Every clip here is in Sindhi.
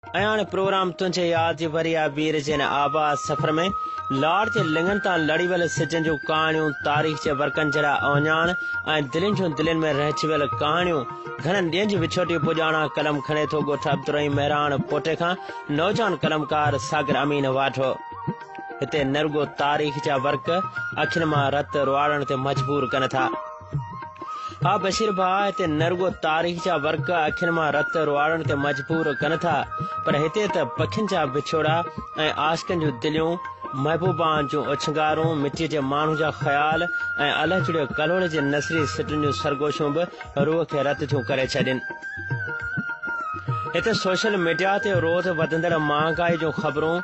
اياڻ پروگرام تنهنجي ياد جي وري آ وير جي هن آباد سفر ۾ لاڙ جي لڱن تان لڙي ويل سجن جون ڪهاڻيون تاريخ جي ورقن جهڙا اوهڃاڻ ۽ دلين جون دلين ۾ رهجي ويل ڪهاڻيون گهڻن ڏينهن جي وڇوٽي پڄاڻان قلم کڻي ٿو ڳوٺ عبدالرحيم مهراڻ پوٽي کان نوجوان قلمڪار ساگر امين واڍو هتي نه رڳو تاريخ جا ورق اکين مان رت رواڙڻ تي مجبور ڪن ٿا ها بشير ڀاء هتي نه رڳو تاريخ جا ورق اکين مان رت رواڙڻ تي مجبور ڪن ٿا پر هتي ته پکين جا وڇوڙا ۽ عاشقن جون دليون محبوبان جون اڇنگارون مٽيء جي ماڻهو جا خيال ۽ الهه جڙيو ڪلهوڙي جي نثري سٽن جون سرگوشيون به روح کي رت ٿيون ڪري ڇڏين هتي سوشل ميڊيا تي روز وڌندڙ مهانگائي جون خبرون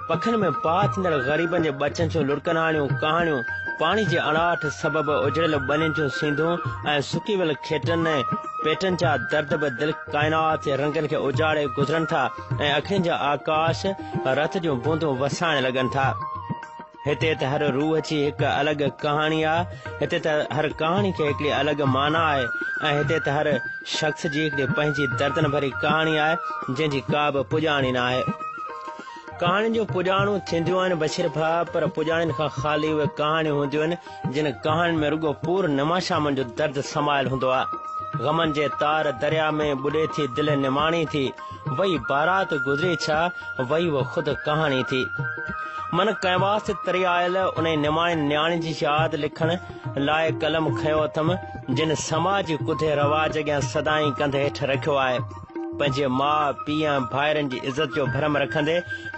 پکن ۾ پاء ٿيندڙ غريبن جي ٻچن جون لڙڪناڻيون ڪهاڻيون، پاڻي جي اڻاٺ سبب اجڙيل ٻنين جون سينڌون ۽ سڪي ويل کيٽن ۽ پيٽن جا درد به دل ڪائنات جي رنگن کي اجاڙي گذرن ٿا ۽ اکين جا آڪاش رت جون بوندون وسائڻ لڳن ٿا. هتي ته هر روح جي هڪ الڳ ڪهاڻي آهي، هتي ته هر ڪهاڻي کي هڪڙي الڳ معنيٰ آهي ۽ هتي ته هر شخص جي هڪڙي پنهنجي دردن ڀري ڪهاڻي آهي، جنهن جي ڪا به پڄاڻي ناهي. ڪهاڻين جون پڄاڻون ٿينديون آهن بشير ڀاء، پر پڄاڻين کان خالي اهي ڪهاڻيون هونديون آهن، جن ڪهاڻين ۾ رڳو پور نما شامن جو درد سمايل هوندو آهي. غمن جي تار درياء ۾ ٻڏي ٿي دل نماڻي ٿي وئي بارات گذري ڇا وئي اهو خود ڪهاڻي ٿي. من ڪئنواس تي تري آيل انهي نماڻي نياڻي جي ياد لکڻ لاء قلم کنيو اٿم، جن سماجي ڪڌي رواج اڳيان سدائين ڪنڌ هيٺ رکيو آهي. پنهنجي ماء، پيء ۽ ڀائرن جي عزت جو ڀرم رکندي،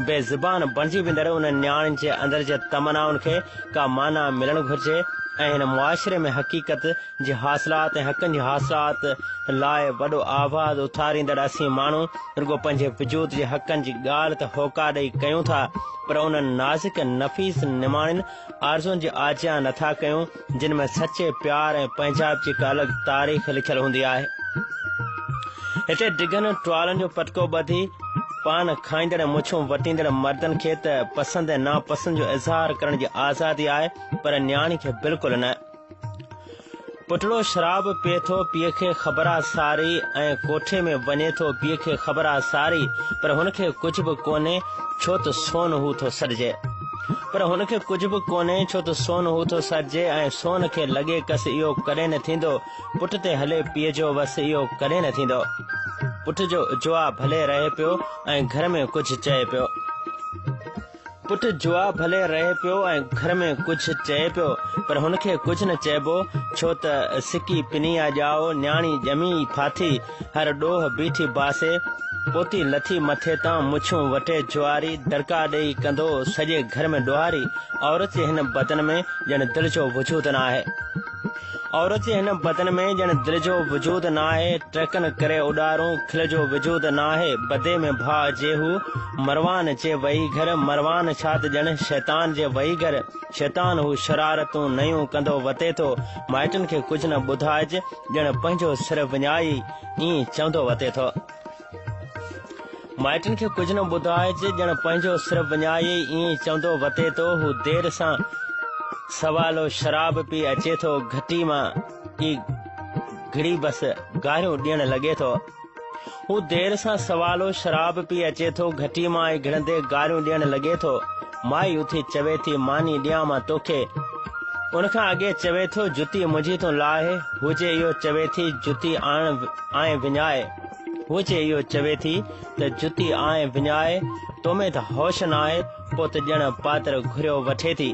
بي زبان بڻجي ويندڙ انهن نياڻين جي اندر جي تمنائن کي ڪا معنيٰ ملڻ گهرجي ۽ هن معاشري ۾ حقيقت جي حاصلات ۽ حقن جي حاصلات لاء وڏو آواز اٿاريندڙ اسين ماڻهو رڳو پنهنجي وجود جي حقن جي ڳالهه ته هوڪا ڏئي ڪيون ٿا پر انهن نازڪ نفيس نماڻين آرزوئن جي آجيان نٿا ڪيون. جن ۾ سچي پيار ۽ پنهنجائپ جي هڪ الڳ تاريخ لکيل هوندي آهي. هتي ڊگهن ٽوالن جو پٽڪو ٻڌي، پان کائيندڙ ۽ مڇون وٽيندڙ مردن کي ته پسند ۽ ناپسند جو اظهار ڪرڻ جي آزادي آهي، پر نياڻي کي بلڪل نه. پٽڙو شراب پيئي ٿو، پيء کي خبر آ ساري ۽ ڪوٺي ۾ وڃي ٿو، پيء کي خبر آ ساري، پر هن کي ڪجهه به ڪونهي، ڇو ته سون هو ٿو سڏجي. پر هن کي ڪجهه به ڪونهي، ڇو ته سون هو ٿو سرجي ۽ سون کي لڳي ڪس اهو ڪڏهن نه ٿيندو. پٽ تي هلي پيء جو وس اهو ڪڏهن نه ٿيندو. پٽ جو جوا ڀلي رهي پيو ۽ گهر ۾ ڪجهه چئي پيو. پٽ جوا ڀلي رهي پيو ۽ گهر ۾ ڪجهه چئي پيو، پر هن کي ڪجهه نه چئبو، ڇو ته سڪي پنيا ڄائو، نياڻي ڄمي ئي ڦاٿي. هر ڏوهه بيٺي باسي، پوتي لٿي مٿي تان مڇون وٽي جواري، دڙڪا ڏيئي ڪندو سڄي گهر ۾ ڏوهاري، عورت جي هن بدن ۾ ڄڻ دل جو وجود نه آهي. عورت جي هن بدن ۾ ڄڻ دل جو وجود نه آهي، ٽرڪن ڪري اڏارون، کل جو وجود نه آهي، بدي ۾ ڀاء جي هو، مروان جي وئي گهر، مروان ڇا ته ڄڻ شيطان جي وئي گهر، شيطان هو، شرارتون نيون ڪندو وتي ٿو، مائٽن کي ڪجهه نه ٻڌائج، ڄڻ پنهنجو سر وڃائي ائين چوندو وتي ٿو. مائٽن کي ڪجهه نه ٻڌائج، ڄڻ پنهنجو سر وڃائي ائين چوندو وتي ٿو. هو دير سان سوالو شراب پي اچي ٿو. گهٽي مان ئي گهڙي بس گاريون ڏيڻ لڳي ٿو. هو دير سان سوالو شراب پي اچي ٿو، گهٽي مان ۽ گهڙندي گاريون ڏيڻ لڳي ٿو. مائي اٿي چوي ٿي، ماني ڏيان مان توکي. ان کان اڳي چوي ٿو، جتي منهنجي تون لاهه. هو جي اهو چوي ٿي، جتي آڻ آئين وڃائي. هو جي اهو چوي ٿي ته جتي آئين وڃائي، تو ۾ ته هوش ناهي. پوء ته ڄڻ پاتر گهريو وٺي ٿي.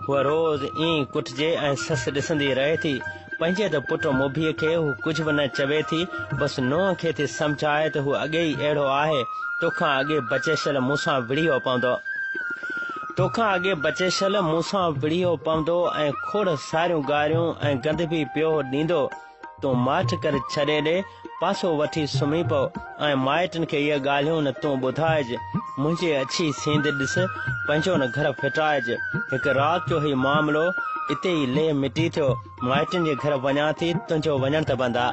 هوء روز ائين ئي ڪٽجي ۽ سس ڏسندي رهي ٿي. پنهنجي ته پٽ موڀيء کي هو ڪجهه به نه چوي ٿي، بس نونهن کي ٿي سمجهائي ته هو اڳي ئي اهڙو آهي، تو کان اڳي بچيشل مون سان وڙهيو پوندو. تو کان اڳي بچيشل مون سان وڙهيو پوندو ۽ کوڙ ساريون گاريون ۽ گند به پيو ڏيندو. تون ماٺ ڪري ڇڏي ڏي. پاسو وٺي سمهي پئو ۽ مائٽن کي اهي ڳالهيون نه تون ٻڌائج، منهنجي اڇي سينڌ ڏس، پنهنجو نه گهر ڦٽائج. هڪ رات جو هي معاملو اتي ئي ليهه مٽي ٿيو. مائٽن جي گهر وڃان ٿي، تنهنجو وڃڻ ته بند آ.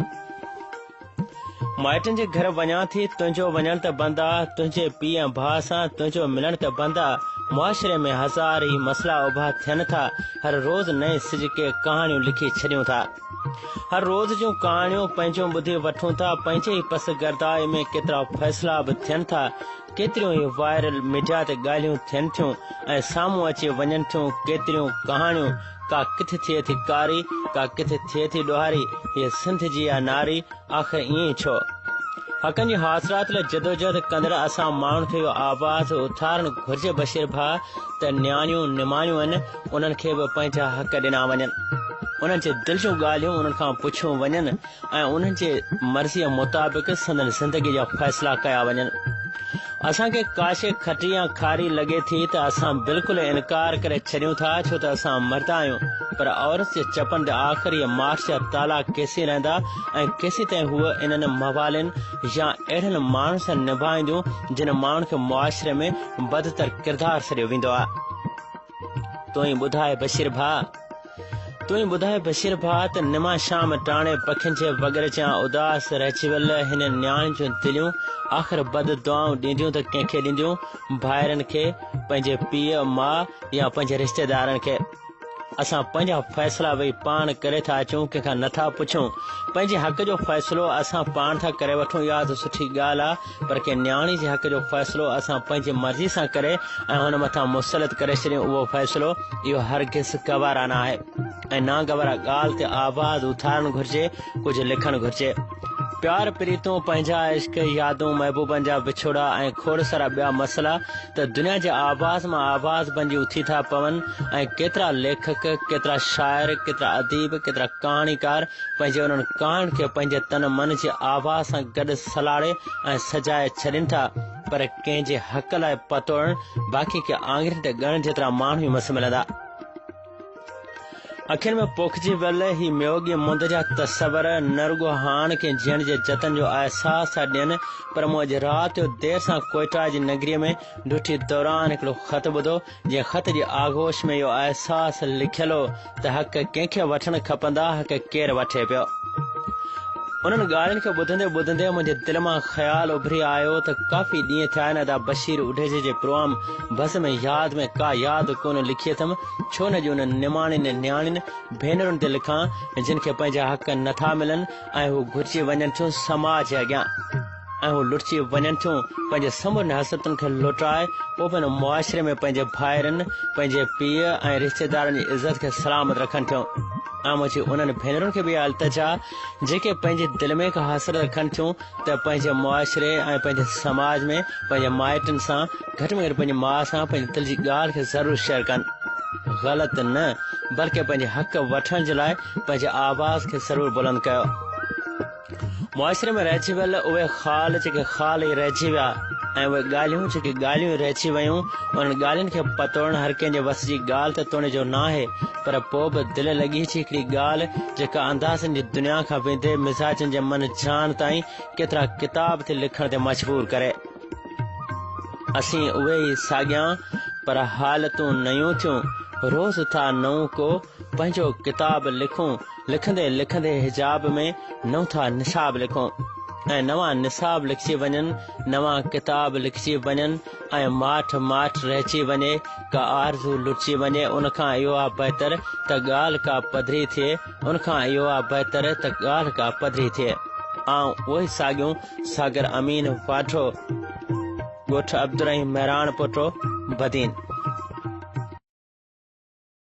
مائٽن جي گهر وڃان ٿي، تنهنجو وڃڻ ته بند آ، تنهنجي پيء ۽ ڀاء سان تنهنجو ملڻ ته بند آ. معاشري ۾ هزار ئي مسئلا اڀا ٿين ٿا، هر روز نئين سج ڪي ڪهاڻيون لکي ڇڏيون ٿا. هر روز جون ڪهاڻيون پنهنجيون ٻڌي وٺون ٿا، پنهنجي ئي پس گرداء ۾ ڪيترا فيصلا به ٿين ٿا، ڪيتريون ئي وائرل ميڊيا تي ڳالهيون ٿين ٿيون ۽ سامهون اچي وڃن ٿيون، ڪيتريون ڪهاڻيون ڪا ڪٿ ٿئي ٿي ڪاري، ڪا ڪٿ ٿئي ٿي ڏوهاري، هيء سنڌ جي آ ناري، آخر ائين ڇو؟ حقن جي حاصلات لاء جدوجهد ڪندڙ اسان ماڻهن کي اهو آواز اٿارڻ گهرجي بشير ڀاء ته نياڻيون نماڻيون آهن انهن کي به پنهنجا حق ڏنا وڃن انهن جي دل جون ڳالهيون انهن کان پڇيون وڃن ۽ انهن جي مرضيء مطابق سندن زندگي جا فيصلا ڪيا وڃن اسان کي ڪاشي کٽي يا کاري لڳي ٿي ته اسان بلڪل انڪار ڪري ڇڏيون ٿا ڇو ته اسان مردا آهيون پر عورت جي چپن تي آخر هيء ماٺ جا تالا ڪيسين رهندا ۽ ڪيسيتائين هوء انهن موالين يا اهڙن ماڻهن سان نڀائينديون جن ماڻهن کي معاشري ۾ بدتر ڪردار سڏيو ويندو آهي. تون ئي ٻڌاء بشير ڀاء! تون ئي ٻڌاء بشير ڀاء ته نما شام ٽاڻي پکين جي وڳرچيان اداس رهجي ويل هن نياڻي جون دليون آخر بد دعائون ڏينديون ته ڪنهن کي ڏينديون ڀائرن کي پنهنجي پيء ماء يا پنهنجي رشتيدارن کي اسان پنهنجا فيصلا وئي پاڻ ڪري ٿا اچون ڪنهن کان نٿا پڇون پنهنجي حق جو فيصلو اسان پاڻ ٿا ڪري وٺون اها ته سٺي ڳالهه آ پر ڪنهن نياڻي جي حق جو فيصلو اسان پنهنجي مرضي سان ڪري ۽ هن مٿان مسلط ڪري ڇڏيون اهو فيصلو اهو هرگز گوارا نه آهي ۽ ناگوارا ڳالهه تي آواز اٿارڻ گهرجي ڪجهه لکڻ گهرجي پيار پريتون پنهنجا عشق يادون محبوبن جا وڇوڙا ۽ کوڙ سارا ٻيا مسئلا ته دنيا جي آواز مان آواز بنجي اٿي ٿا پون ۽ ڪيترا ليکڪ ڪيترا شاعر ڪيترا اديب ڪيترا ڪهاڻيڪار پنهنجي انهن ڪهاڻين کي پنهنجي تن من جي آواز سان گڏ سلاڙي ۽ سجائي ڇڏين ٿا، پر ڪنهن جي حق لاء پتوڙڻ باقي ڪي آڱرين تي ڳڻڻ جيترا ماڻهو ئي مس ملندا. اکين ۾ پوکجي ويل هي ميوڳي مند جا تصور نه رڳو هاڻ ڪنهن جيئڻ جي جتن جو احساس ٿا ڏين، پر مون اڄ رات جو دير سان ڪوئيٽا جي نگريء ۾ ڊوٽي دوران هڪڙو خط ٻڌو، جنهن خط جي آغوش ۾ اهو احساس لکيل هو ته حق ڪنهن کي وٺڻ کپندا حق ڪير وٺي پيو. انهن ڳالهين کي ٻڌندي ٻڌندي منهنجي دل مان خيال اڀري آيو ته ڪافي ڏينهن ٿيا آهن ادا بشير اڍيجي جي پروام بس ۾ ياد ۾ ڪا ياد ڪونه لکي اٿم ڇو نه اڄ انهن نماڻين نياڻين ڀينرن تي لکان جن کي پنهنجا حق نٿا ملن ۽ هو گهرجي وڃن ٿيون سماج اڳيان. ۽ هو لٽجي وڃن ٿيون پنهنجي سمورين حسرتن کي لٽائي پوء به هن معاشري ۾ پنهنجي ڀائرن، پنهنجي پيء ۽ رشتيدارن جي عزت کي سلامت رکن ٿيون ۽ منهنجي انهن ڀينرن کي به اها التجا جيڪي پنهنجي دل ۾ ڪا حسرت رکن ٿيون ته پنهنجي معاشري ۽ پنهنجي سماج ۾ پنهنجي مائٽن سان گهٽ ۾ گهٽ پنهنجي ماء سان پنهنجي دل جي ڳالهه کي ضرور شيئر ڪن غلط نه بلڪه پنهنجي حق وٺڻ جي لاء پنهنجي آواز کي ضرور بلند ڪيو. معاشري ۾ رهجي ويل اهي خال جيڪي خال ئي رهجي ويا ۽ اهي ڳالهيون جيڪي ڳالهيون ئي رهجي ويون انهن ڳالهين کي پتوڙڻ هر ڪنهن جي وس جي ڳالهه ته توڻي جو ناهي پر پوء به دل لڳي جي هڪڙي ڳالهه جيڪا اندازن جي دنيا کان ويندي مزاجن جي من جان تائين ڪيترا ڪتاب ٿي لکڻ تي مجبور ڪري. اسين اهي ئي ساڳيان پر حالتون نيون ٿيون روز ٿا نئون ڪو پنهنجو ڪتاب لکون، لکندي لکندي حجاب ۾ نوٿا نصاب لکون ۽ نوان نصاب لکجي وڃن، نوان ڪتاب لکجي وڃن ۽ ماٺ ماٺ رهجي وڃي، ڪا آرزو لٽجي وڃي، ان کان اهو آ بهتر ته ڳالهه ڪا پڌري ٿئي، ان کان اهو آ بهتر ته ڳالهه ڪا پڌري ٿئي. آئون اهي ساڳيون ساگر امين واڍو، ڳوٺ عبدالرحيم مهراڻ پوٽو، بدين.